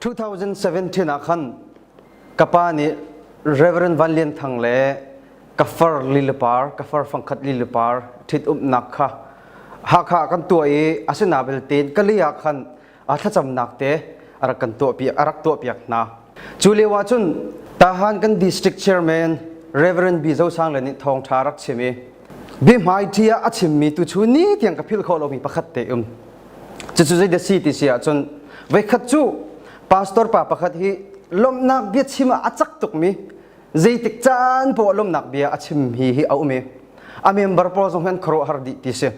2017 ah khan ka pa nih Reverend Van Lian Thang le ka far lilapar ka far fangkhat lilapar ṭhit umnak kha Hakha kan tuah i asina belte ka li ah khan a thlacamnak te a rak kan tuah piak a rak tuah piak hna cu lio ah cun Tahan kan district chairman Reverend B Zosang le nih thawngṭha rak chim i Bihmaiṭhi ah a chimmi tu chu ni tiang ka philh khawh lomi pakhat te um. Cucu zeidah si ti si ahcun veikhat cu pastor pa pakhat hi lawmhnak bia chim ah a cak tukmi zeitik caan paoh lawmhnak bia a chim hi hi a um i a member pawl zong hian khuaruahhar dih ti si.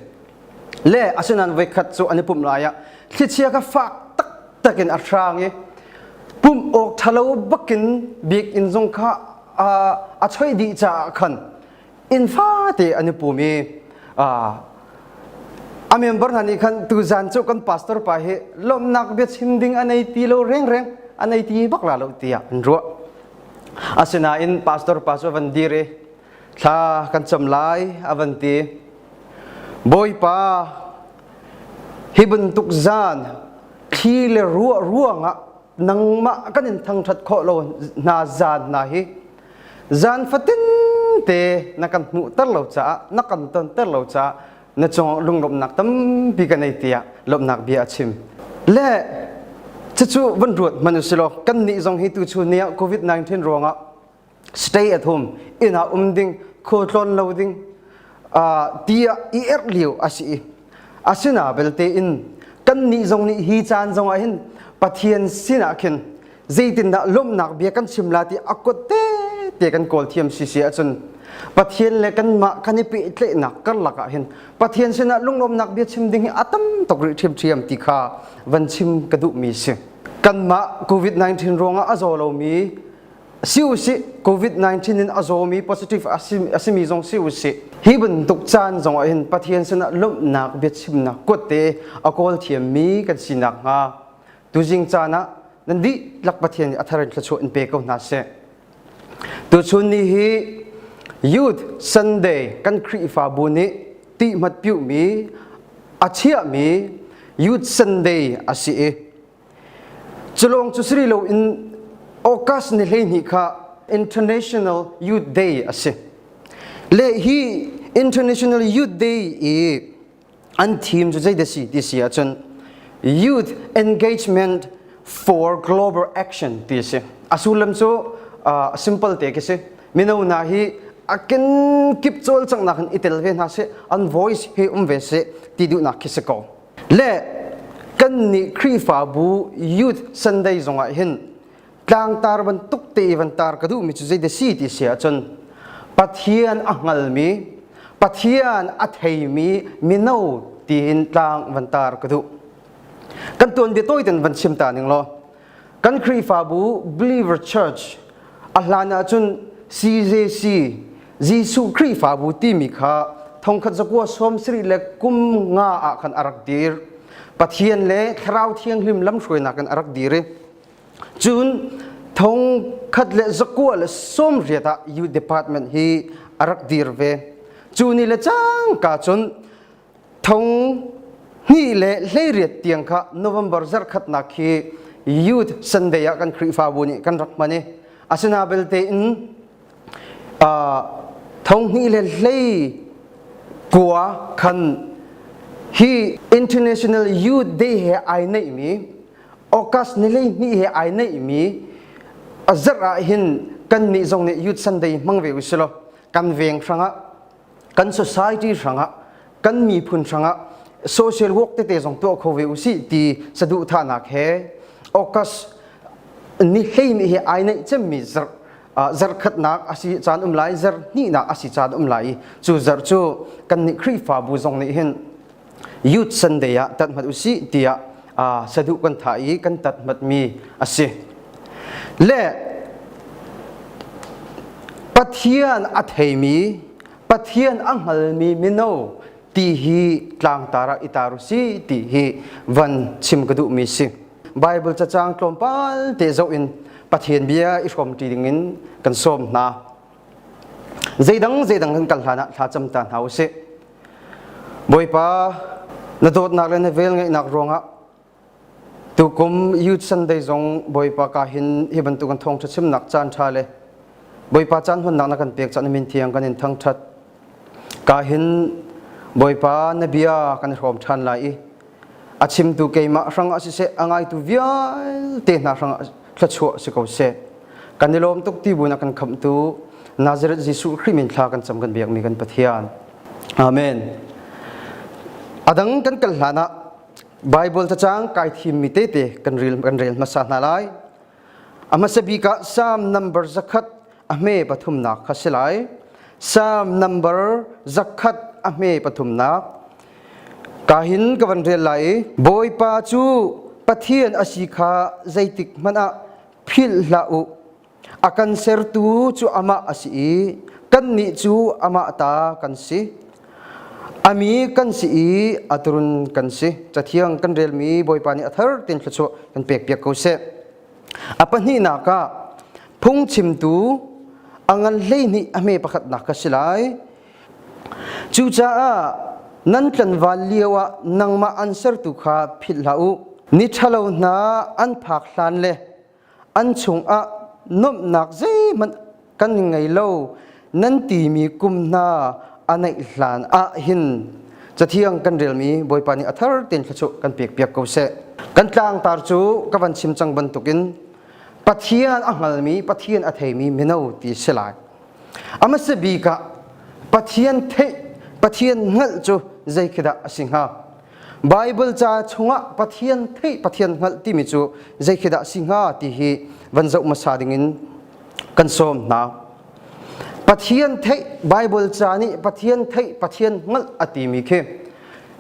Le asinain veikhat cu an i pumh lai ah thlichia kha fak taktak in a hrang i pumh awk ṭhalo bakin bik inn zong kha a, a choih dih caah khan inn fate an i pum i a member hna nih khan tuzan cu kan pastor pa hi lawmhnak biachim ding a nei ti lo rengreng a nei ti bak la lo tiah an ruah asinain pastor pa cu a van dir i thla kan cam lai a van ti bawipa hi bantuk zan thli le ruah ruangah nangmah kan in thangthat khawh lo hna zan hna hi zan fatin te na kan hmuhter lo caah na kan tonter lo caah na cung lunglawmhnak tampi ka nei tiah lawmhnak bia a chim le cucu van ruat man u silaw kan nih zong hi tu chu niah covid-19 ruangah stay at home ina um ding khaw tlawn lo ding ti i erh lio a si i asina belte in kan nih zong nih hi caan zongah hin pathian sinah khin zeitindah lawmhnak bia kan chim la ti a kote te kan kawl thiam si si ahcun Pathian le kanmah kan i pehtlaihnak karlak ah hin Pathian sinah lunglawmnak bia chim ding hi a tam tuk rih ṭhiam ṭhiam ti kha van chim ka duhmi si kanmah covid-19 ruangah a zaw lomi si usih covid-19 in a zawmi positive asimi zong si usih hi bantuk caan zongah hin Pathian sinah lawmhnak biachimnak kutte a kawl thiammi kan sinak hnga Tuzing caan ah nan dihlak Pathian nih a thar in thluachuah in pe ko hna seh. Tuchun ni hi Youth Sunday kan Khrihfabu nih tihmat piuhmi a chiahmi Youth Sunday a si i culawng cu siri loin August ni hleihnih kha International Youth Day a si. Le hi International Youth Day i an thim cu zei si ti si ahcun youth engagement for global action ti si a sullam cu uh, simple te khi si mino na hi a kenkip cawlcanghnak in itel ve hna si an voice hi um ve si ti duhnak khi si ko le kan nih khrihfabu youth sunday zongah hin tlangtar bantuk te van tar ka duhmi cu zeidah si ti si ahcun Pathian a hngalmi Pathian a theimi mino tiin tlang van tar ka duh kan tuanbia tawi ten van chim ta ning law kan Khrihfabu Believer Church a hlan ahcun CJC Jesuh Khrihfabu timi kha thongkhat zakua sawm siri le kum nga ah khan a rak dir Pathian le thlarau thianghlim lamhruainak in a rak dir i Cun thong khat le zakua le sawmriat ah U Department hi a rak dir ve. Cu ni le cangka cun thong hnih le hleiriat tiang kha November zarkhatnak khi Youth Sunday ah kan Khrihfabu nih kan rak hman i asina belte in uh, thong hnih le hlei kua khan hi International Youth Day he ai neihmi August ni hleihnih he ai neihmi a zarh ah hin kannih zong nih Youth Sunday hmang ve usilaw kan veng hrangah kan society hrangah kan miphun hrangah social work tete zong tuah kho ve usi ti saduhthahnak he August ni hleihnih he ai neih cemmi zarh zarkhatnak asi caan um lai zarh hnihnak asi caan um lai i cu zarh cu kan nih Khrihfabu zong nih hin Youth Sunday ah tat mat usih tiah saduh kan tha i kan tat matmi a si. Le Pathian a theimi, Pathian a hngalmi mino ti hi tlangtar ah i tar u si ti hi van chim ka duhmi si. Bible cacang tlawmpal te zoh in Pathian bia i hrawmti dingin kan sawm hna. Zeidang zeidang kan kal hlan ah thlacam ta hna u si. Bawipa, na dawtnak le na vel ngeihnak ruangah tukum Youth Sunday zong Bawipa ka hin hi bantuk an thawngṭha chimnak caan ṭha le Bawipa caan hunnak na kan pek caan min thiang kan in thangṭhat. Ka hin Bawipa na bia kan i hrawm ṭhan lai i a chimtu keimah hrang ah siseh a ngaitu vialte hna hrang ah thluachuah si ko seh kan i lawm tuk ti bu na kan khamhtu Nazareth Jesuh Khrih min thla kan cam kan biakmi kan Pathian amen adang kan kal hlan ah Bible cacang kai thim mi tete kan rel kan rel hmasa hna lai A hmasa bik ah Salm number zakhat a hme pathumnak kha si lai. Salm number zakhat a hme pathumnak. Ka hin ka van rel lai i Bawipa cu Pathian a si kha zeitik hmanh ah philh hlah u. A kan sertu cu amah a si i kannih cu amah ta kan si. Ami kan si i aturun kan si. Cathiang kan relmi Bawipa nih a thar tin thluachuah kan pek piak ko seh. A pahnihnak ah phungchimtu a ngan hleihnih a hme pakhatnak ka si lai. Cucaah nan tlanval lio ah nangmah an sertu kha philh hlah u. Ni ṭhalo hna an phak hlan le an chungah nuamhnak zeihmanh kan ngei lo nan timi kum hna a naih hlan ah hin cathiang kan relmi Bawipa nih a thar tein thla cu kan pek piak ko seh kan tlangtar cu ka van chim cang bantukin Pathian a hngalmi Pathian a theimi mino ti si lai ama se bik ah Pathian theih Pathian hngalh cu zei khi dah a si hnga Baibal ca chungah Pathian theih Pathian hngalh timi cu zei khi dah si hnga ti hi van zoh hmasa dingin kan sawm hna. Pathian theih Baibal ca nih Pathian theih Pathian hngalh a timi khi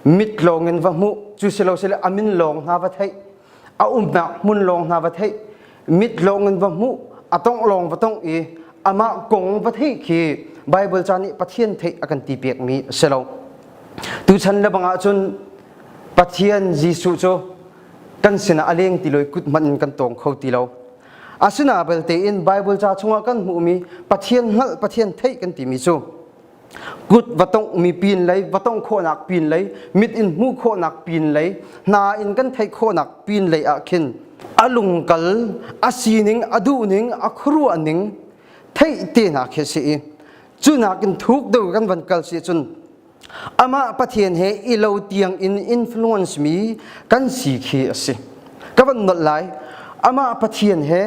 mit lawng in va hmuh cu si lo sile a min lawng hna va theih a umnak hmun lawng hna va theih mit lawng in va hmuh a tongh lawng va tongh i amah kong va theih khi Baibal ca nih Pathian theih a kan ti pekmi a si lo. Tuchan le bangah cun Pathian Jesuh cu kan sinah a leng ti lo i kut hmanh in kan tawng kho ti lo. Asinain belte in Baibal ca chungah kan hmuhmi Pathian hngalh, Pathian theih kan timi cu kut va tongmi pin lei va tong khawhnak pin lei mit in hmuh khawhnak pin lei hna in kan theih khawhnak pin lei ah khin a lungkal a sining a duhning a khuaruahning theih te hna khi si i cunakin thuk do kan van kal si cun amah pathian he i lo tiang in influence mi kan si khi a si ka van nolh lai amah pathian he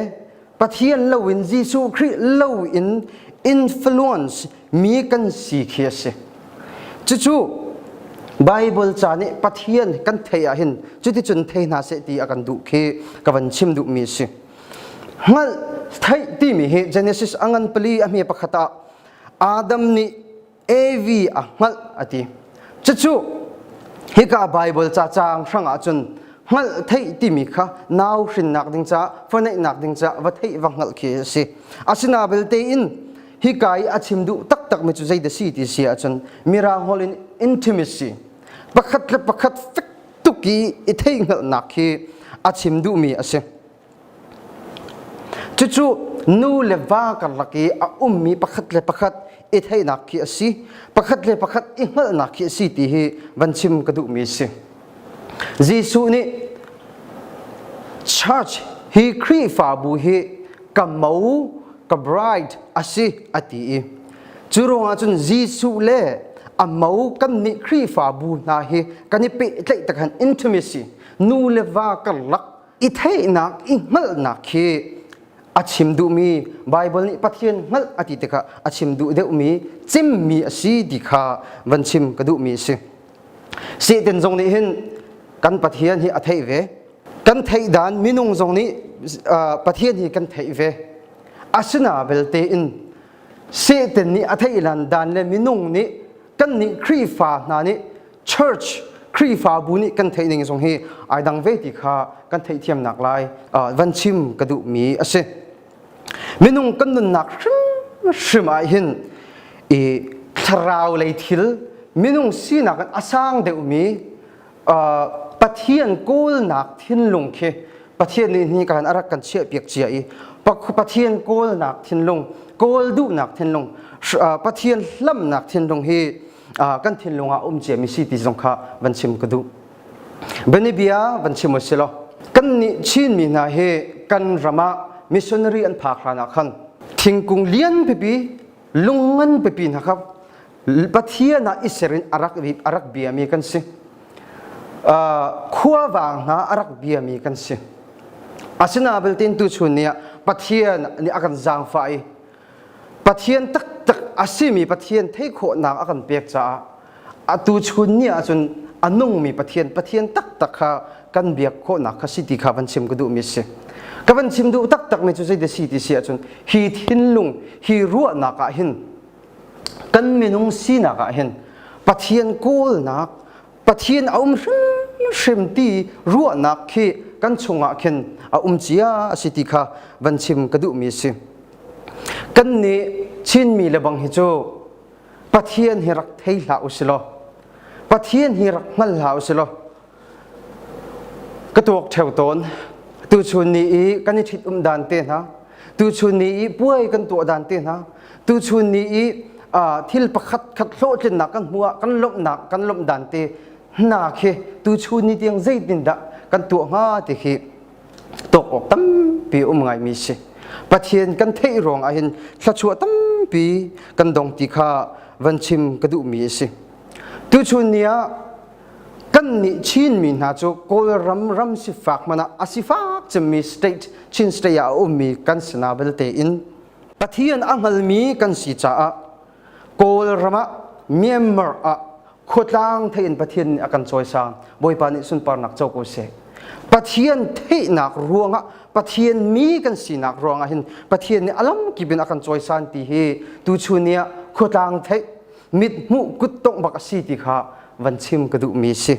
Pathian loin Jesuh Khrih loin influence mi kan si khi a si. Cucu Bible ca nih Pathian kan thei ahhin cuticun thei hna seh ti a kan duh khi ka van chim duhmi a si. Hngalh, theih timi hi Genesis a ngan pali a hme pakhat ah Adam nih Evi a hngalh a ti. Cucu hika Baibal ca caang hrangah cun hngalh theih timi kha nau hrinnak ding caah fa neihnak ding caah va theih va hngalh khi a si. Asina belte in hika i a chim duh taktakmi cu zei da si ti si ahcun mirangholh in intimacy pakhat le pakhat fek tuk i i theih hngalhnak khi a chim duhmi a si. Cucu nu le va karlak i a ummi pakhat le pakhat i theihnak khi a si. Pakhat le pakhat i hngalhnak khi a si ti hi van chim ka duhmi a si. Jesuh nih church hi Khrihfabu hi ka mo ka bride a si a ti i cu ruangah cun Jesuh le a mo kan nih Khrihfabu hna hi kan i pehtlaih takhan intimacy nu le va karlak i theihnak i hngalhnak khi a chim duhmi Baibal nih Pathian hngalh a ti tikah a chim duh deuhmi cimmi a si ti kha van chim ka duhmi a si. Satan zong nih hin kan Pathian hi a theih ve. Kan theih dan minung zong nih Pathian hi kan theih ve. Asina belte in Satan nih a theih lan dan le minung nih kannih Khrihfa hna nih church Khrihfabu nih kan theih ning zong hi ai dang ve ti kha kan theihthiamnak lai van chim ka duhmi a si. Minung kan nunnak hrimhrim ah hin i thlarau lei thil minung sinak in a sang deuhmi Pathian kawlnak thinlung khi Pathian nih nikan arak kan chiah piak cia i Pathian kawlnak thinlung kawl duhnak thinlung Pathian hlamnak thinlung hi kan thinlung ah um cia mi si ti zong kha van chim ka duh Bianabia van chim usilo kan nih Chin mi hna hi kan ram ah missionary an phak hran ah khan thingkung lian pipi lungngan pipi hna kha Pathian ah i serin a rak, a rak biami kan si. Uh, khuavang hna a rak biami kan si. Asina belte tu chun nih Pathian nih a kan zaangfah i Pathian taktak a simi Pathian theihkhawhnak a kan pek caah a tu chun ni ahcun a nungmi Pathian Pathian taktak kha kan biak khawhnak kha si ti kha van chim ka duhmi si ka van chim duh taktak mi cu zei de si ti si ahcun hi thinlung hi ruahnak ah hin kan minung sinak ah hin Pathian kawlnak Pathian a um hrimhrim ti ruahnak khi kan chungah khin a um cia a si ti kha van chim ka duhmi a si kan nih Chinmi le bang hi cu Pathian hi rak thei hlah u si law Pathian hi rak hngal hlah u si law ka tuak theo tawn tu chun ni i kan i ṭhit um dan te hna tu chun ni i puai kan tuah dan te hna tu chun ni i thil pakhat khat hlawhtlinnak kan hmuah kan lomhnak kan lomh dan te hna khi tu chun ni tiang zeitin dah kan tuah hnga ti khi tok awk tampi um ngai mi si pathian kan theih rong ah hin thlachuah tampi kan dong ti kha van chim ka duh mi si tu chun ni ah kan nih Chinmi hna cu Kawlram ram sifak man ah a sifak cemmi state Chin state ah a ummi kan sinah belte in Pathian a hngalmi kan si caah Kawlram ah Myanmar ah khuatlang thei in Pathian nih a kan cawisang Bawipa nih sunparnak co ko seh Pathian theihnak ruangah Pathian mi kan sinak ruangah hin Pathian nih a lam kip in a kan cawisan ti hi tuchun ni ah khuatlang theih mithmuh kuttongh bak a si ti kha van chim ka duhmi si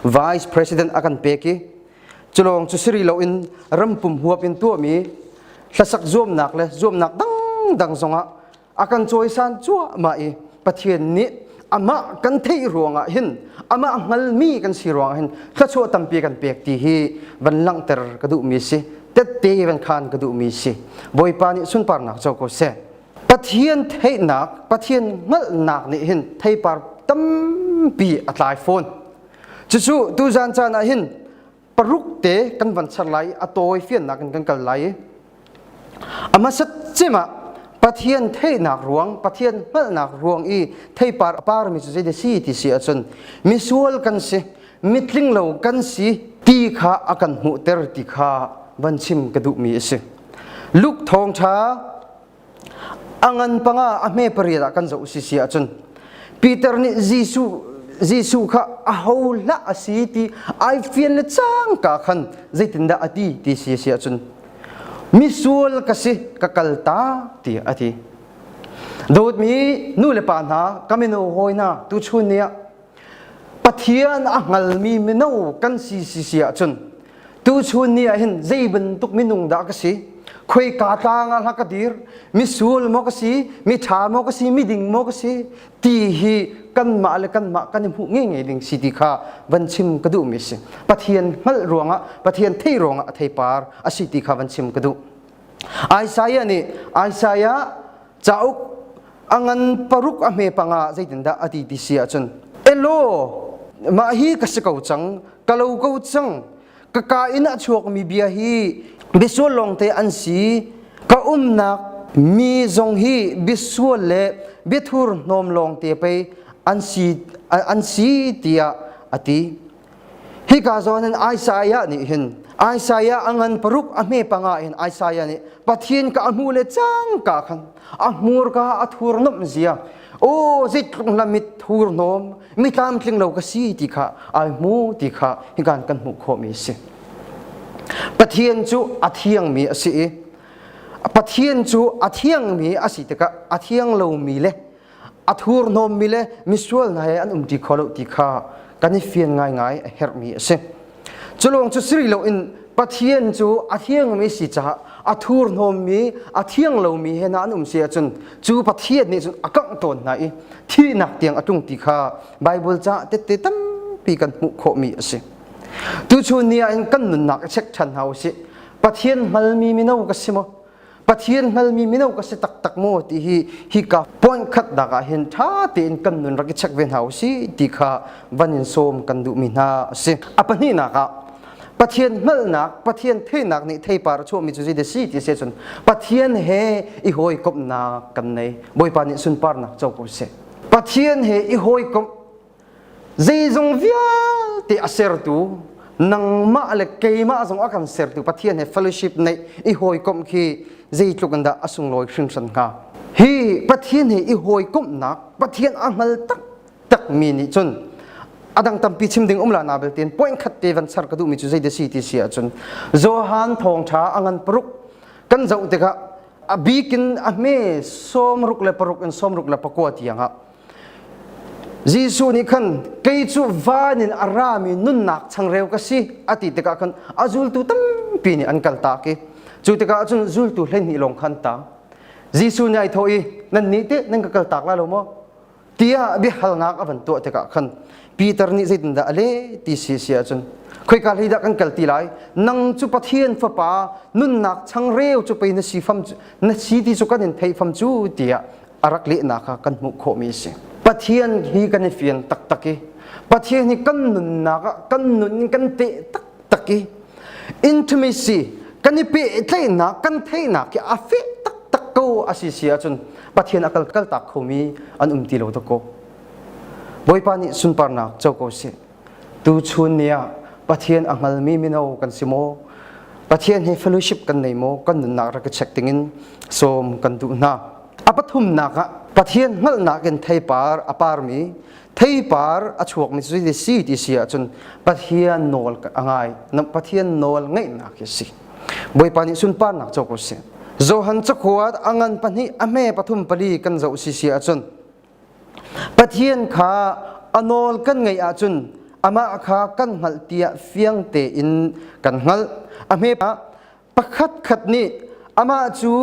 vice president a kan pek i culawng cu siri loin rampum huap in tuahmi hlasak zuamnak le zuamnak dangdang zongah a kan cawisan cuahmah i pathian nih amah kan theih ruangah hin amah hngalmi kan si ruangah hin thluachuah tampi kan pek ti hi van langhter ka duhmi si tette van khan ka duhmi si bawipa nih sunparnak co ko seh Pathian theihnak, Pathian hngalhnak nih hin theipar tampi a tlai fawn. Cucu tu zan caan ah hin paruk te kan van ser lai i a tawi fiannak in kan kal lai i a hmasat cim ah Pathian theihnak ruang, Pathian hngalhnak ruang i theipar a parmi cu zeidah si ti si ahcun misual kan si, mitlinglo kan si ti kha a kan hmuhter ti kha van chim ka duhmi a si. Luke thawngṭha A ngan panga a hme pariat ah kan zoh sisi ahcun Peter nih Jesuh Jesuh kha aho hlah a si ti ai fian le cangka khan zeitindah a ti ti si si ahcun misual ka si ka kal ta ti a ti Dawtmi nu le pa hna ka mino hawi hna tuchun ni ah Pathian a hngalmi mino kan si si si ahcun tuchun ni ah hin zei bantuk minung dah ka si khuika tlang ah hla ka dir misul maw ka si miṭha maw ka si miding maw ka si ti hi kanmah le kanmah kan i hmuh ngengei ding si ti kha van chim ka duhmi si pathian hngalh ruangah pathian thei ruangah a theipar a si ti kha van chim ka duh Isaiah nih Isaiah cauk a ngan paruk a hme panga zeitindah a ti ti si ahcun elo mah hi ka si ko cang ka lo ko cang ka ka in a chuakmi bia hi bisual lawng te an si ka umnak mi zong hi bisual le biathur hnawm lawng te pei an si an si tiah a ti Hika zawn hin Isaiah nih hin Isaiah a ngan paruk a hme panga hin Isaiah nih Pathin ka a hmu le cang ka khan a hmur ka a thur nom zia o zit tlung la mit thur nom mi tlam tling lo ka si ti kha ai hmu ti kha hikan kan hmuh khawmi a si Pathian cu a thiangmi a si i Pathian cu a thiangmi a si tikah a thiang lomi le a thurhnawmmi le misual hna he an um ti kho lo ti kha kan i fian ngaingai a herhmi a si. Cu lawng cu siri loin Pathian cu a thiangmi si caah a thurhnawmmi a thiang lomi he na an um si ahcun cu Pathian nih cun a kangh tawn hna i thihnak tiang a tlung ti kha Baibal caah tette tampi kan hmuh khawhmi a si. Tuchun ni ah in kan nunnak i check ṭhan hna u sih. Pathian hngalmi mino ka si maw? Pathian hngalmi mino ka si taktak maw ti hi hika point khatnak ah hin ṭha tein kan nun rak i check ve hna u si ti kha van in sawm kan duhmi hna a si. A pahnihnak ah Pathian hngalhnak Pathian theihnak nih theipar a chuahmi cu zeidah si ti si cun Pathian he i hawikomhnak kan nei Bawipa nih sunparnak co ko seh Pathian he i hawikomh zeizong vialte a sertu nangmah le keimah zong a kan sertu Pathian he fellowship neih i hawikomh khi zeitluk in dah a sunglawi hringhran hnga hi Pathian he i hawikomhnak Pathian a hngal tak takmi nih cun a dang tampi chim ding umla na belte point khat te van ser ka duhmi cu zei de si ti si ahcun Johan thawngtha a ngan paruk kan zoh tikah a bikin a hme sawm ruk le paruk in sawm ruk le pakua tiangah Jesuh nih khan kei cu van in a rami nunnak changreu ka si a ti tikah khan a zultu tampi nih an kal tak i cu tikah cun zultu hleihnih lawng kha an tang. Jesuh nih ai thawh i nannih teh nan ka kal tak lai lo maw? tiah biahalnak a van tuah tikah khan Peter nih zeitindah a leh ti si si ahcun khoika hlei dah kan kal ti lai nang cu Pathian fapa nunnak changreu cu pei na si fam na si ti cu kan in theih fam cu tiah a rak lehnak kha kan hmuh khawhmi a si. Pathian hi kan i fian taktak i Pathian hi kan nunnak ah kan nun in kan teh taktak i intimacy kan i pehtlaihnak kan theihnak hi a feh taktak ko a si si ahcun Pathian a kal kaltak khomi an um ti lo tuk ko. Bawipa nih sunparnak co ko sih. Tuchun ni ah Pathian a hngalmi mino kan si maw? Pathian hi fellowship kan nei maw? Kan nunnak rak i check dingin sawm kan duh hna. A pathumnak ah Pathian hngalhnak in theipar a parmi theipar a chuakmi cu ti si ti si ahcun Pathian nawl a ngai. Pathian nawl ngeihnak hi si. Bawipa nih sunparnak co ko sih. Johan cakuat a ngan pahnih a hme pathum pali kan zoh si si ahcun Pathian kha a nawl kan ngaih ahcun amah kha kan hngalh tiah fiang tein kan hngalh. A hme ah pakhat khat nih amah cu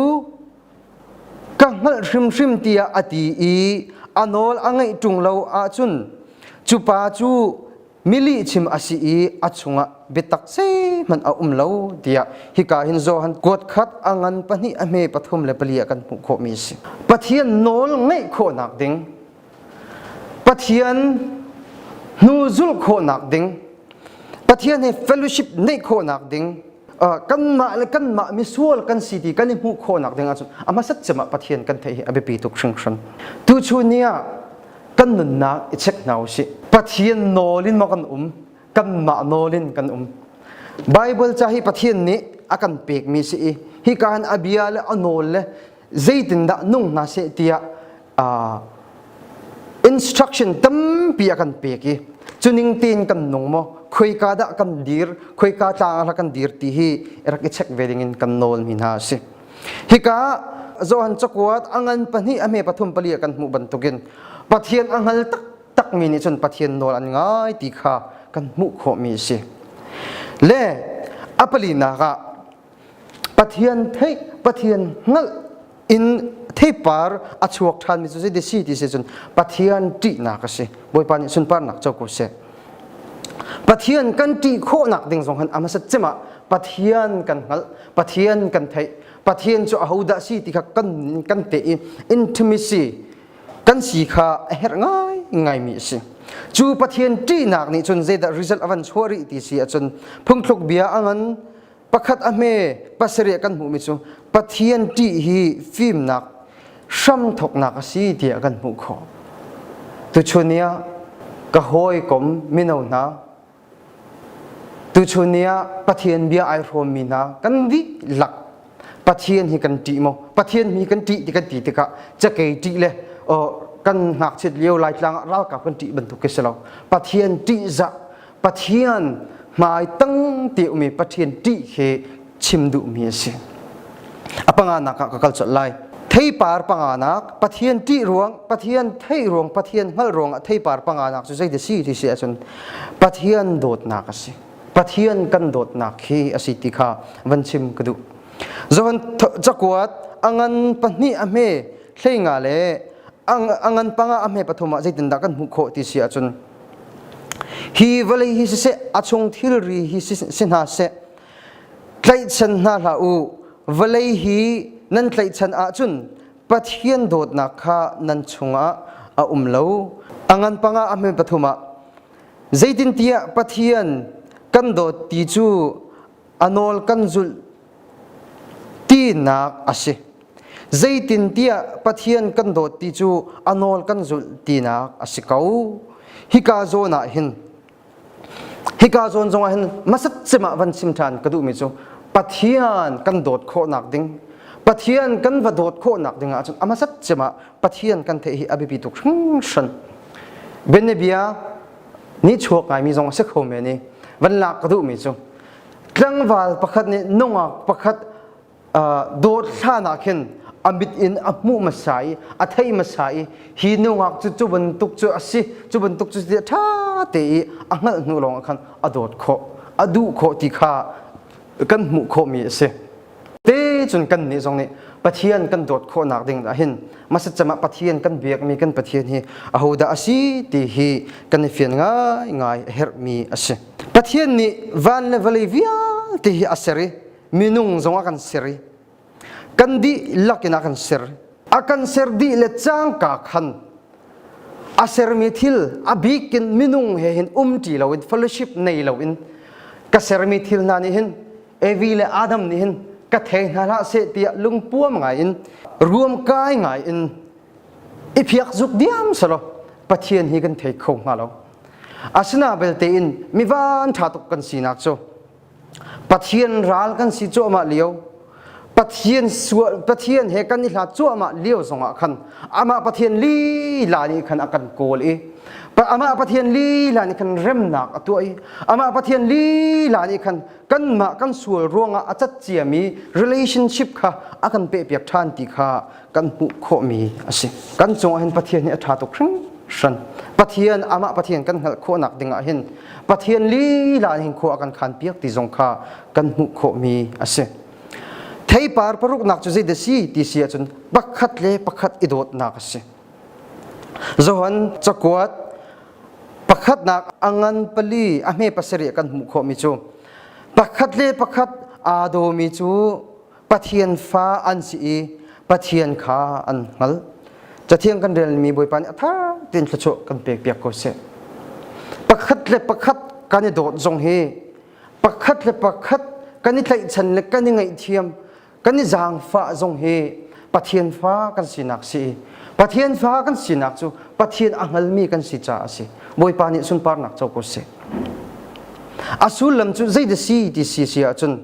ka hngalh hrimhrim tiah a ti i a nawl a ngaih ṭung lo ahcun cupa cu milihchim a si i a chungah biatak zeihmanh a um lo tiah hika hin Johan kuat khat a ngan pahnih a hme pathum le pali ah kan hmuh khawhmi a si Pathian nawl ngaih khawhnak ding Pathian hnu zulh khawhnak ding Pathian he fellowship neih khawhnak ding kanmah le kanmah misual kan si ti kan i hmuh khawhnak ding ahcun a hmasat cem ah Pathian kan theih hi a biapi tuk hringhran. Tuchun ni ah kan nunnak i check hna u sih. Pathian nawl in maw kan um, kanmah nawl in kan um. Bible ca hi Pathian nih a kan pekmi si i hika hin a bia le a nawl le zeitindah nung hna seh tiah uh, instruction tampi a kan pek i cuning tein kan nung maw khoika dah kan dir khoika tlang ah kan dir ti hi rak i check ve ding in kan nawl mi hna si hika Johan cakuat angan pahnih a me pathum pali kan hmuh bantukin pathian a ngal tak tak mi nih cun pathian nawl an ngai ti kha kan hmuh khawh mi si le a palinak ah Pathian theih Pathian hngalh in theipar a chuak ṭhanmi cu zei si ti si cun Pathian ṭihnak a si Bawipa nih sunparnak co ko seh Pathian kan ṭih khawhnak ding zong hin a hmasat cem ah Pathian kan hngalh Pathian kan theih Pathian cu ahodah si ti kha kan kan teh i intimacy kan si kha a herh ngai ngaimi a si cu Pathian ṭihnak nih cun zeidah result a van chuah rih ti si ahcun phungthluk bia a ngan pakhat a hme pasarih kan hmuhmi cu Pathian ṭih hi fimnak hram thawknak a si tiah kan hmuh khawh. Tuchun ni ah ka hawikom mino hna, tuchun ni ah Pathian bia ai hrawmmi hna kan dihlak Pathian hi kan ṭih maw? Pathian hi kan ṭih ti kan ti tikah cakei ṭih le kan ngakchiat lio laitlang ah ralkap kan ṭih bantuk khi si lo. Pathian ṭihzah Pathian hmai tang ti umi Pathian ṭih khi chim duhmi a si. A panga nak ah ka kal colh lai. Theipar panga nak Pathian ṭih ruang, Pathian theih ruang, Pathian hngalh ruang ah theipar panga nak cu zeidah si ti si ahcun Pathian dawtnak a si. Pathian kan dawtnak khi a si ti kha van chim ka duh. Zohan cakuat a ngan pahnih a hme hleinga le a ngan panga a hme pathum ah zeitindah kan hmuh khawh ti si ahcun Hi vawlei hi siseh a chung thilri hi si hna seh tlaihchan hna hlah u vawlei hi nan tlaihchan ahcun Pathian dawtnak kha nan chungah a um lo a ngan panga a hme pathum ah zeitintiah Pathian kan dawt ti cu a nawl kan zulh tinak a si. Zeitintiah Pathian kan dawt ti cu a nawl kan zulh tinak a si ko. Hika zawn ah hin hika zawn zongah hin masat cemah van sim ṭhan ka duhmi cu Pathian kan dawt khawhnak ding Pathian kan va dawt khawhnak ding ahcun amasat cemah Pathian kan theih hi a biapi tuk hringhran. Bianabia Nihchuak ngaimi zong a si kho men i van lak ka duhmi cu tlangval pakhat nih nungak pakhat dawt hlan ah khin a mit in a hmuh hmasa i a thei hmasa i hi nungak cu cu bantuk cu a si cu bantuk cu ti ṭha te i a hngalh hnu lawng ah khan a dawt khawh a duh khawh ti kha kan hmuh khawhmi a si. te cun kannih zong nih Pathian kan dawt khawhnak ding ah hin masatcam ah Pathian kan biakmi kan Pathian hi ahodah a si ti hi kan i fian ngaingai a herhmi a si Pathian nih van le vawlei vialte hi a ser i minung zong a kan ser i kan dih lakin a kan ser a kan ser dih le cangka khan a sermi thil a bikin minung he hin um ṭi loin fellowship nei loin ka sermi thil hna nih hin Evi le Adam nih hin ka thei hna hlah seh tiah lungpuam ngai in ruam kai ngai in i phiak zuk diam selaw Pathian hi kan thei kho hnga lo asina belte in mi van ṭha tuk kan sinak cu Pathian ral kan si cuahmah lio Pathian sual Pathian he kan i hlat cuahmah lio zongah khan amah Pathian lila nih khan a kan kawl i amah Pathian lila nih khan remnak a tuah i amah Pathian lila nih khan kanmah kan sual ruangah a cat ciami relationship kha a kan pehpiak ṭhan ti kha kan hmuh khawhmi a si. Kan cungah hin Pathian hi a ṭha tuk hringhran. Pathian amah Pathian kan hngalh khawhnak dingah hin Pathian lila hin khua a kan khanpiak ti zong kha kan hmuh khawhmi a si. Theipar paruknak cu zeidah si ti si ahcun pakhat le pakhat i dawtnak a si. Johan cakuat Pakhatnak a ngan pali a hme pasarih kan hmuh khawhmi cu pakhat le pakhat aa dawmi cu Pathian fa an si i Pathian kha an hngal. Cathiang kan relmi Bawipa nih a tha tein thluachuah kan pekpiak ko sih. Pakhat le pakhat kan i dawt zong hi pakhat le pakhat kan i tlaihchan le kan i ngaihthiam kan i zaangfah zong hi Pathian fa kan sinak si Pathian fa kan sinak cu Pathian a hngalmi kan si caah a si Bawipa nih sunparnak co ko sih a sullam cu zeidah si ti si si ahcun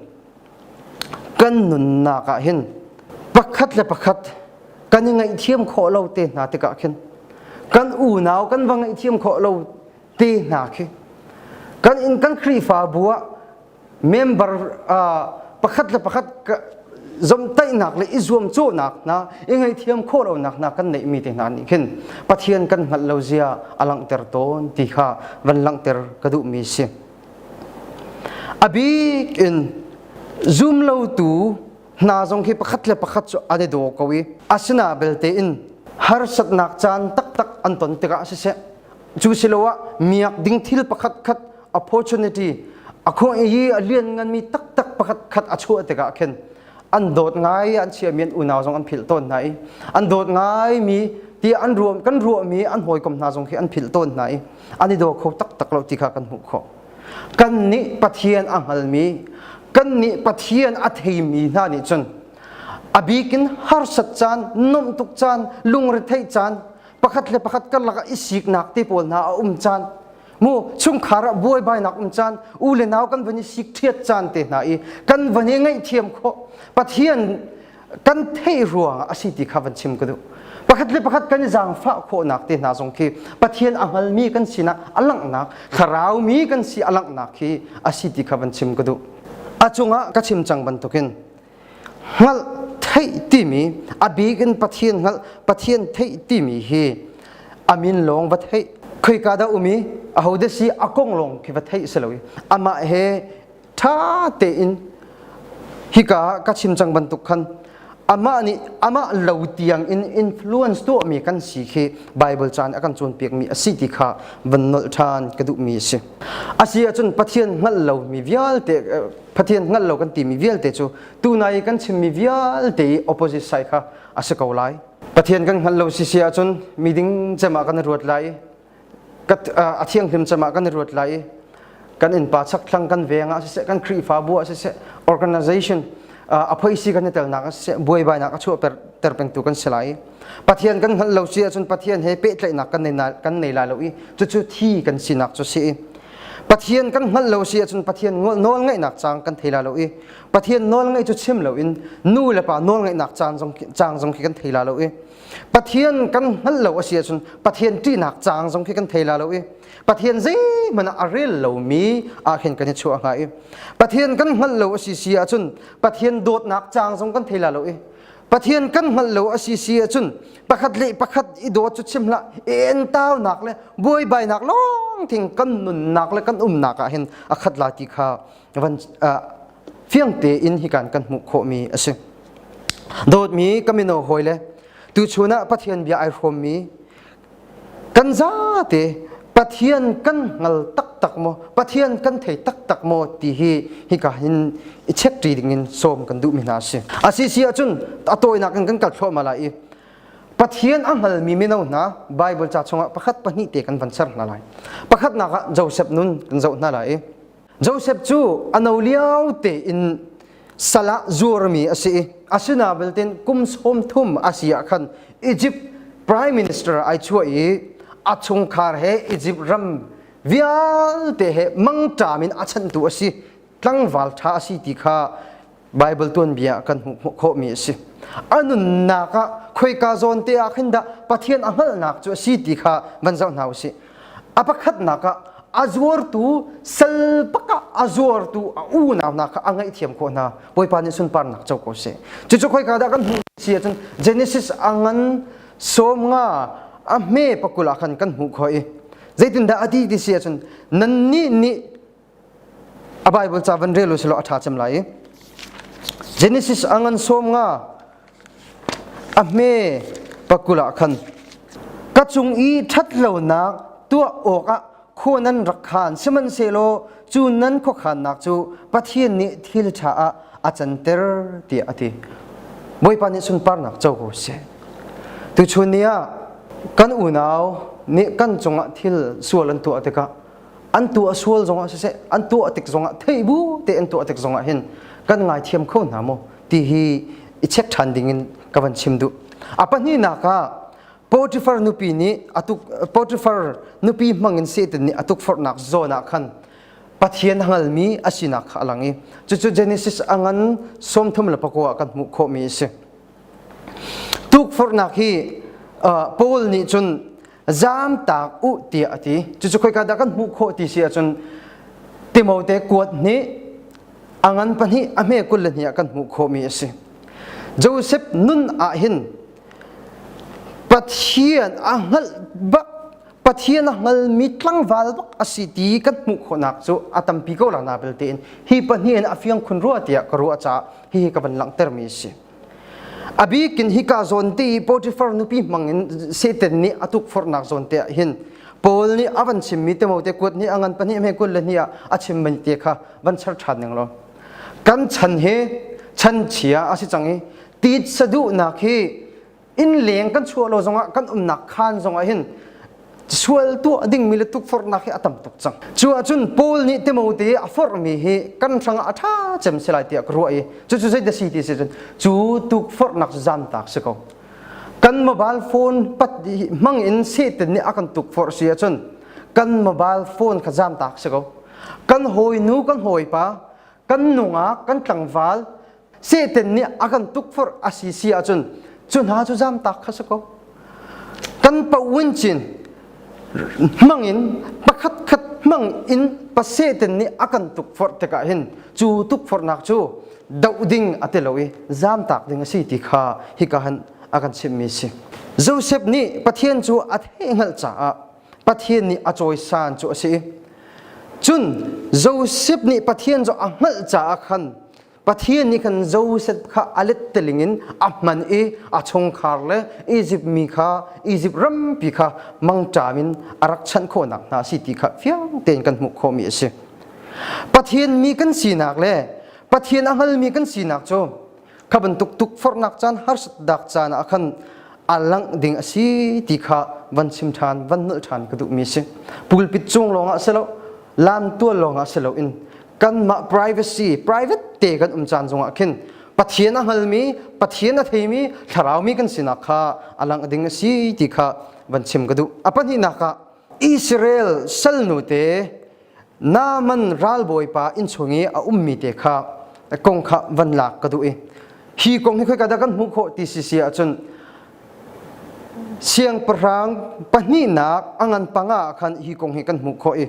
kan nunnak ah hin pakhat le pakhat kan i ngaihthiam khawh lo te hna tikah khin kan unau kan va ngaihthiam khawh lo te hna khi kan in kan Khrihfabu ah member pakhat le pakhat zomtaihnak le i zuamcawhnak hna i ngaihthiam khawh lonak hna kan neihmi te hna nih khin Pathian kan hngalh lo zia a langhter tawn ti kha van langhter ka duhmi si a bik in zumlotu hna zong khi pakhat le pakhat cu an i daw ko i asina belte in harsatnak caan taktak an ton tikah siseh cu siloah miak ding thil pakhat khat opportunity a khong i a lian ngan mi taktak pakhat khat a chuah tikah khin an dawt ngai an chia mian unau zong an philh tawn hna i an dawt ngai mi ti an ruam kan ruah mi an hawikom hna zong khi an philh tawn hna i an i daw kho taktak lo ti kha kan hmuh khawh kan nih pathian a hngal mi kan nih pathian a thei mi hna nih cun a bikin harsat caan nomh tuk caan lungretheih caan pakhat le pakhat karlak i siknak te pawl hna a um caan mu chungkhar ah buaibainak um caan u le nau kan van i sik ṭhiat caan te hna i kan van i ngaihthiam khawh pathian kan theih rua a si ti kha van chim ka duh pakhat le pakhat kan i zaangfah khawhnak te hna zong khi pathian a hngalmi kan sinah a langhnak thlaraumi kan si a langhnak khi a si ti kha van chim ka duh a cungah ka chim cang bantukin hngalh theih timi a bik in pathian hngalh pathian theih timi hi amin lawng va theih khoika dah umi aho de si akong lawng khi va theih si lo amah he tha tein hika ka chim cang bantuk khan amah nih amah lo tiang in influence tuahmi kan si khi bible caan akan cawnpiak mi asi ti kha van nolh than ka duh mi asi asi ahcun pathian hngal lo mi vialte Pathian hngal lo kan timi vialte cu tunai i kan chimmi vialte i opposite side kha a si ko lai. Pathian kan hngal lo si si ahcun miding cemah kan i ruat lai i a thianghlim cemah kan i ruat lai i kan innpa chakthlang kan veng ah siseh kan khrihfabu ah siseh organization a phoisi kan i telnak ah siseh buaibainak a chuah ter pengtu kan si lai Pathian kan hngalh lo si ahcun Pathian he pehtlaihnak kan nei kan nei lai lo i cucu thi kan sinak cu si i Pathian kan hngalh lo si ahcun Pathian nawlngaihnak cang kan thei la lo i Pathian nawlngaih cu chim loin nu le pa nawlngaihnak caan zong cang zong khi kan thei la lo i Pathian kan hngalh lo a si ahcun Pathian ṭihnak cang zong khi kan thei la lo i Pathian zeihmanh ah a rel lomi ahhin kan i chuah hnga i Pathian kan hngalh lo a si si ahcun Pathian dawtnak cang zong kan thei la lo i Pathian kan hngalh lo a si si ahcun pakhat le pakhat i dawt cu chim hlah en taunak le buaibainak lawng thing kan nunnak le kan umnak ah hin a khat la ti kha van fiang tein hi kan kan hmuh khawhmi a si dawtmi ka mino hawi le tuchun ah Pathian bia ai hrawmmi kan zate Pathian kan ngal taktak maw Pathian kan thei taktak maw ti hi hika in i check ṭi ding in sawm kan duhmi hna a si a si si ahcun a tawinak in kan kal thluahmah lai i Pathian a hngalmi mino hna Baibal ca chungah pakhat pahnih te kan van ser hna lai pakhatnak ah Josef nun kan zoh hna lai i Joseph cu a no lio tein salah zuarmi a si i a sina belte kum sawm thum a si ah khan Egypt prime minister ai chuah i a chungkhar he Egypt ram vialte he mangṭam in a chanhtu a si tlangval ṭha a si ti kha Baibal tuanbia kan hmuh khawhmi a si. A nunnak ah khoika zawn te ah khin dah Pathian a hngalhnak cu a si ti kha van zoh hna u sih. A pakhatnak ah a zuartu salpak ah a zuartu a unau hna kha a ngaihthiam khawh hna. Bawipa nih sunparnak co ko seh. Cucu khoika dah kan hmuh si ahcun Genesis a ngan sawm nga a hme pakul ah khan kan hmuh khawh i zeitindah a ti ti si ahcun nannih nih a bible ca van rel usilaw a ṭha cem lai i genesis a ngan sawm nga a hme pakul ah khan ka cung i ṭhatlonak tuah awkah khua nan rak khan sihmanhsehlaw cu nan khuakhannak cu pathian nih thil ṭha ah a canter tiah a ti bawipa nih sunparnak co ko sih tuchun ni ah kan unau nih kan cungah thil sual an tuah tikah an tuah sual zongah siseh an tuah tik zongah thei bu te an tuah tik zongah hin kan ngaithiam kho hna maw ti hi i check ṭhan dingin ka van chim duh a pahnihnak ah Potifar nupi nih atuk Potifar nupi hmangin Satan nih atuk forhnak zawn ah khan Pathian hangalmi asinak kha a lang i cucu Genesis angan sawmthum le pakua kan hmuh khawhmi a si. Tuk forhnak hi uh, Paul nih cun Zamtak u tiah a ti. Cucu khoika dah kan hmuh khawh ti si ahcun Timote kuat hnih a ngan pahnih a hme kul le hnih ah kan hmuh khawhmi a si. Joseph nun ah hin Pathian a hngalh bak Pathian a hngalmi tlangval bak a si ti kan hmuh khawhnak cu a tampi ko la na belte in hi pahnih in a fiang khun rua tiah ka ruah caah hihi ka van langhtermi a si. Abik in hika zawn te i Potifar nupi hmang in Satan nih a tukforhnak zawn te ah hin Paul nih a van chimmi te mo te kuat nih a ngan pahnih me kul le ni ah a chim mai te kha van char ṭhan ning lo kan chan he chan chia a si cang i titsa duhnak hi Innleng kan chuah lo zongah kan umnak khaan zongah hin sual tuah dingmi le tukforhnak hi a tam tuk cang. Cu ahcun Paul nih Timote a forhmi hi kan hrangah a ṭha cem si lai tiah ka ruah i cucu zeidah ti si cun cu tukforhnak cu zamtak si ko. Kan mobile phone pat hmang in Satan nih a kan tukforh si ahcun kan mobile phone kha zamtak si ko. Kan hawinu kan hawipa, kan nungak, kan tlangval Satan nih a kan tukforh a si si ahcun cu hna cu zamtak kha si ko. Kan pauin cin hmangin pakhat khat hmang in pa Satan nih a kan tukforh tikah hin cu tukforhnak cu doh ding a ti lo i zamtak ding a si ti kha hika han a kan chimhmi a si. Josef nih Pathian cu a thehngalh caah Pathian nih a cawisan cu a si i cun Josef nih Pathian cu a hngalh caah khan Pathian nih khan Josef kha a let teling in a hman i a chungkhar le Izipt mi kha Izipt rampi kha mangṭam in a rak chanh khawhnak hna a si ti kha fiang tein kan hmuh khawhmi a si. Pathian mi kan sinak le Pathian a hngalmi kan sinak cu kha bantuk tukforhnak caan harsatnak caan ah khan a langh ding a si ti kha van chim ṭhan, van nolh ṭhan ka duhmi a si. Pulpit cung lawngah si lo, lamtual lawngah si loin kanmah privacy private te kan um caan zongah khin Pathian a hngalmi Pathian a theimi thlarau mi kan sinak kha a lang ding a si ti kha van chim ka duh a pahnihnak ah Israel salnu te Naaman ralbawipa inn chung i a ummi te kha kong kha van lak ka duh i hi kong hi khoika dah kan hmuh khawh ti si si ahcun siangpahrang pahnihnak a ngan panga ah khan hi kong hi kan hmuh khawh i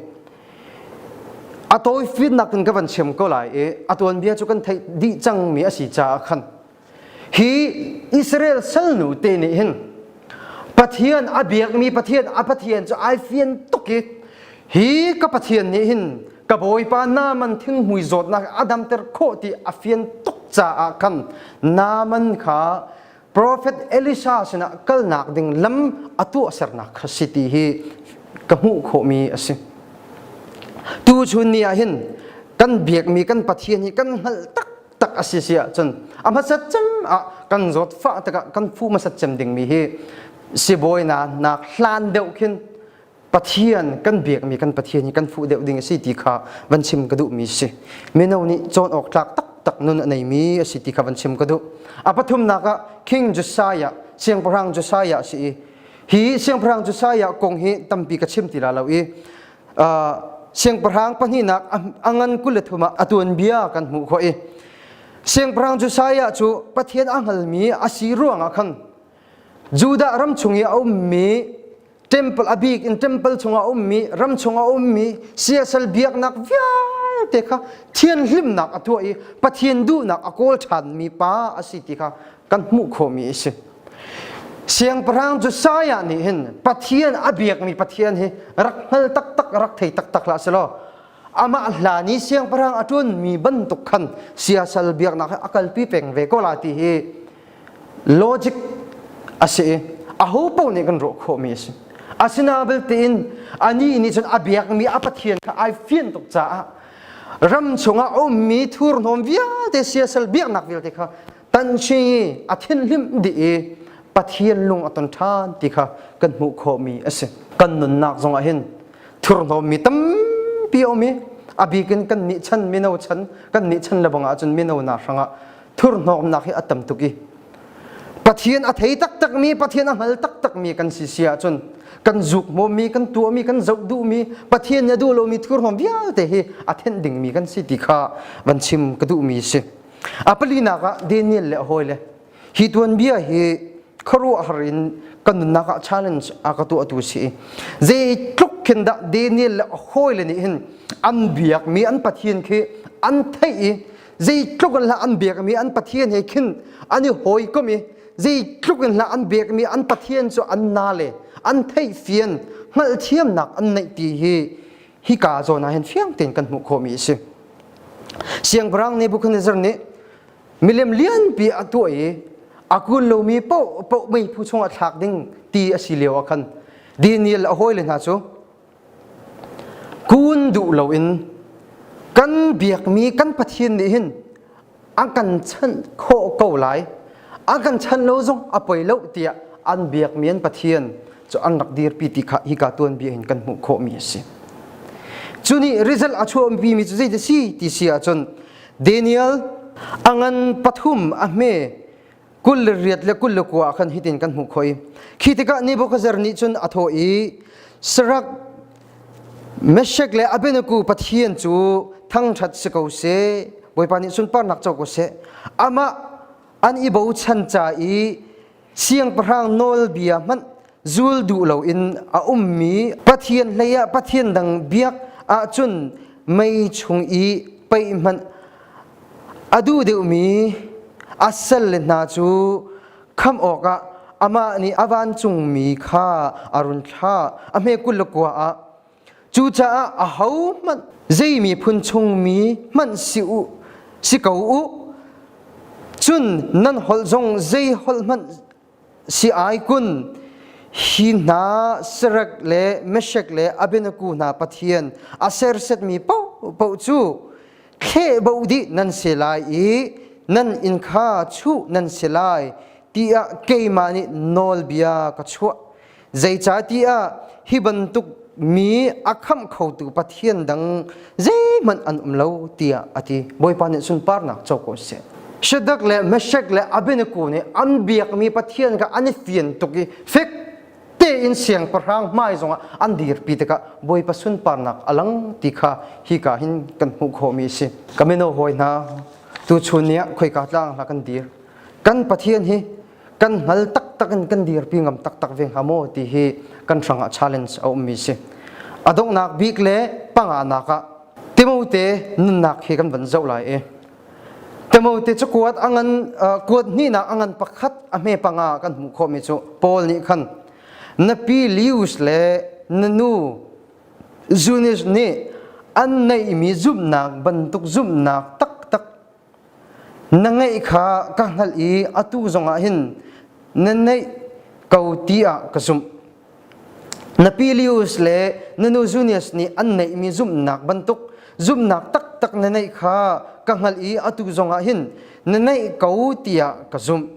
a tawi fitnak in ka van siam ko lai i a tuanbia cu kan theih dih cangmi a si caah khan hi Israel salnu te nih hin Pathian a biakmi Pathian a Pathian cu ai fian tuk i hi ka Pathian nih hin ka bawipa naman thinghmui zawtnak a damter khawh ti a fian tuk caah khan naman kha Profet Elisha sinah kalnak ding lam a tuahsernak kha si ti hi ka hmuh khawhmi a si. Tu chun ni ah hin kan biakmi kan Pathian hi kan hngalh taktak a si si ahcun a hmasat cem ah kan zawt fah tikah kan fu hmasat cem dingmi hi sibawi na nak hlan deuh khin Pathian kan biakmi kan Pathian hi kan fuh deuh ding a si ti kha van chim ka duhmi si. Mino nih cawn awk tlak taktak nun a neimi a si ti kha van chim ka duh. A pathumnak ah King Josiah, Siangpahrang Josiah a si i, hi Siangpahrang Josiah kong hi tampi ka chim ti la lo i, uh, siangpahrang pahnihnak a ngan kul le thum ah a tuanbia kan hmuh khawh i, siangpahrang Josiah cu Pathian a hngalmi a si ruangah khan Judah ram chung i a ummi temple abik in temple chungah a ummi ram chungah a ummi siasal biaknak vialte kha thianhlimnak a tuah i Pathian duhnak a kawl ṭhanmi pa a si ti kha kan hmuh khawhmi a si. Siangpahrang Josiah nih hin Pathian a biakmi Pathian hi rak hngal taktak rak thei taktak hlah selaw amah hlan i siangpahrang a ṭuanmi bantuk khan siasal biaknak hi a kalpi peng ve ko la ti hi logic a si i aho paoh nih kan rawh khawhmi a si asina belte in anih nih cun a biakmi a pathian kha ai fian tuk caah ram chungah a ummi thurhnawm vialte siasal biaknak vialte kha tanhshi a thinhlim dih i pathian lung a ton ṭhan ti kha kan hmuh khawhmi a si kan nunnak zongah hin thurhnawmmi tampi a um i a bikin kan nih chan mino chan kan nih chan le bang ahcun mino hna hrangah thurhnawmnak hi a tam tuk i Pathian a thei taktakmi Pathian a hngal taktakmi kan si si ahcun kan zukmawmi kan tuahmi kan zoh duhmi Pathian nih a duh lomi thurhnawm vialte hi a thenh dingmi kan si ti kha van chim ka duhmi si a palinak ah Daniel le a hawile hi tuanbia hi khuaruahhar in kan nunnak ah challenge a ka tuahtu si i zei tluk khin dah Daniel le a hawile nih hin an biakmi an Pathian khi an theih i zeitluk in hlah an biakmi an pathian he khin an i hawikom i zeitluk in hlah an biakmi an pathian cu an na le an theihfian hngalhthiamnak an neih ti hi hi ka zawn ah hin fiang tein kan hmuh khawhmi a si siangpahrang Nebuchadnezzar nih milem lianpi a tuah i a kun lomi paoh paoh mei phu chung a thlak ding ti a si lio ah khan Daniel a hawile hna cu kun duh loin kan biakmi kan Pathian nih hin a kan chanh khawh ko lai a kan chanh lo zong a poi lo tiah an biakmi an Pathian cu an rak dirpi ti kha hika tuanbia in kan hmuh khawhmi a si cu nih result a chuahpimi cu zeidah si ti si ahcun Daniel a ngan pathum a hme kul le riat le kul le kua khan hitin kan hmuh khoi khi tikah Nebuchadnezzar nih cun a thawh i sarak Meshek le Abednego Pathian cu thangṭhat si ko se Bawipa nih sunparnak co ko seh amah an i bochan ca i siangpahrang nawlbia hmanh zul duh loin a ummi Pathian hleiah Pathian dang biak ahcun mei chung i pei hmanh A duh deuhmi a salle hna cu khamh awkah amah nih a vancungmi kha a run thlah, a hme kul le kua ah. Cucaah ahohmanh zei miphun chungmi hmanh si u, si ko u, cun nan holh zong zei holh hmanh si ai kun hi hna serek le meshek le abenaku hna pathian aserset mi po po cu thle bo di nan se lai i nan in kha chu nan se lai tiah keimah nih nawlbia ka chuah Zeicatiah hi bantuk mi a khamh khotu Pathian dang zeihmanh an um lo tiah a ti. Bawipa nih sunparnak co ko seh. Shadak le Meshak le Abednego nih an biakmi Pathian kha an i fian tuk i fek tein siangpahrang hmai zongah an dirpi tikah Bawipa sunparnak a lang ti kha hika hin kan hmuh khawhmi a si. Ka mino hawi hna, tuchun ni ah khoika tlang hla kan dir. Kan Pathian hi kan hngal taktak in kan dirpi ngam taktak ve hnga maw ti hi kan hrangah challenge a ummi si a donghnak bik le panganak ah timote nunnak hi kan van zoh lai i timote cu kuat angan kuat hnihnak angan pakhat a hme panga kan hmuh khawhmi cu paul nih khan na pi lius le na nu zunis nih an neihmi zumhnak bantuk zumhnak taktak na ngeih kha ka hngalh i atu zongah hin na neih ko ti ah ka zumh na Pilius le na nu Junius nih an neihmi zumhnak bantuk zumhnak taktak na neih kha ka hngalh i atu zongah hin na neih ko tiah ka zumh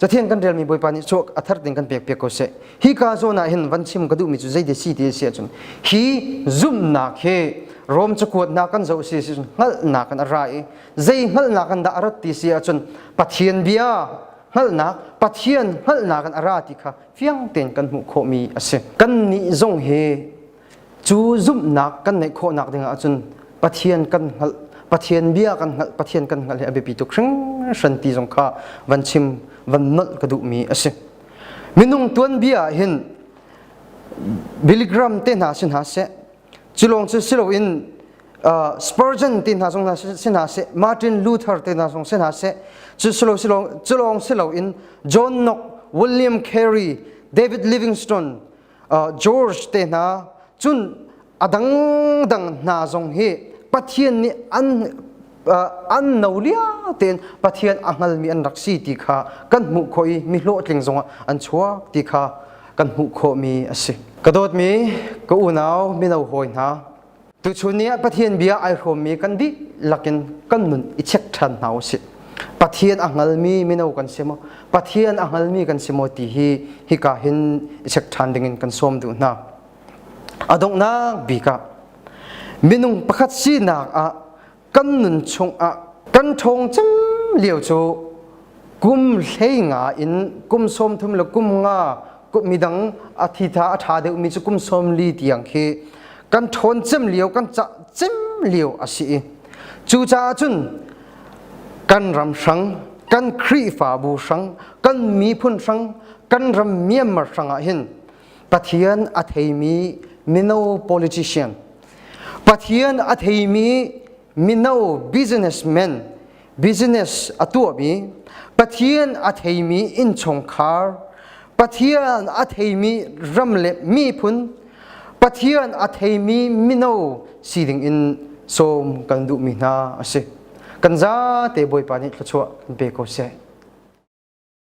Cathiang kan relmi Bawipa nih cu a thar ding kan pek piak ko seh. Hi ka zawn ah hin van chim ka duhmi cu zei de si ti si ahcun hi zumhnak hi Rom cakuatnak kan zoh si si cun hngalhnak in a ra i zei hngalhnak in dah a rat ti si ahcun Pathian bia hngalhnak Pathian hngalhnak in a ra ti kha fiang tein kan hmuh khawhmi a si. Kannih zong hi cu zumhnak kan neih khawhnak ding ahcun Pathian kan hngalh Pathian bia kan hngalh Pathian kan hngalh hi a biapi tuk hringhran ti zong kha van chim van nolh ka duhmi a si minung tuanbia ah hin biligram te hna si hna seh cu lawng cu si loin uh, Spurgeon te hna zong si hna seh Martin Luther te hna zong si hna seh cu silo silo cu lawng si loin John Knox William Carey David Livingstone George te hna cun a dangdang hna zong hi Pathian nih an an no lia tein Pathian a hngalmi an rak si ti kha kan hmuh khawh i mi hlawhtling zongah an chuak ti kha kan hmuh khawhmi a si. Ka dawtmi ka unau mino hawi hna, Tuchun ni ah Pathian bia ai hrawmmi kan dih lakin kan nun i check ṭhan hna u sih. Pathian a hngalmi mino kan si maw? Pathian a hngalmi kan si maw ti hi hika hin i check ṭhan dingin kan sawm duh hna. A donghnak bik ah minung pakhat sinak ah kan nun chungah kan ṭhawng cem lio cu kum hlei nga in kum sawm thum le kum nga midang a thitha a ṭha deuhmi cu kum sawm li tiang khi kan ṭhawn cem lio kan cah cem lio a si i cucaah cun kan ram hrang kan khrihfabu hrang kan miphun hrang kan ram Myanmar hrang ah hin Pathian a theimi mino politician, Pathian a theimi mino businessman, business a tuahmi, Pathian a theimi innchungkhar, Pathian a theimi ram le miphun, Pathian a theimi mino si dingin sawm kan duhmi hna a si. Kan zate Bawipa nih thluachuah kan pe ko seh.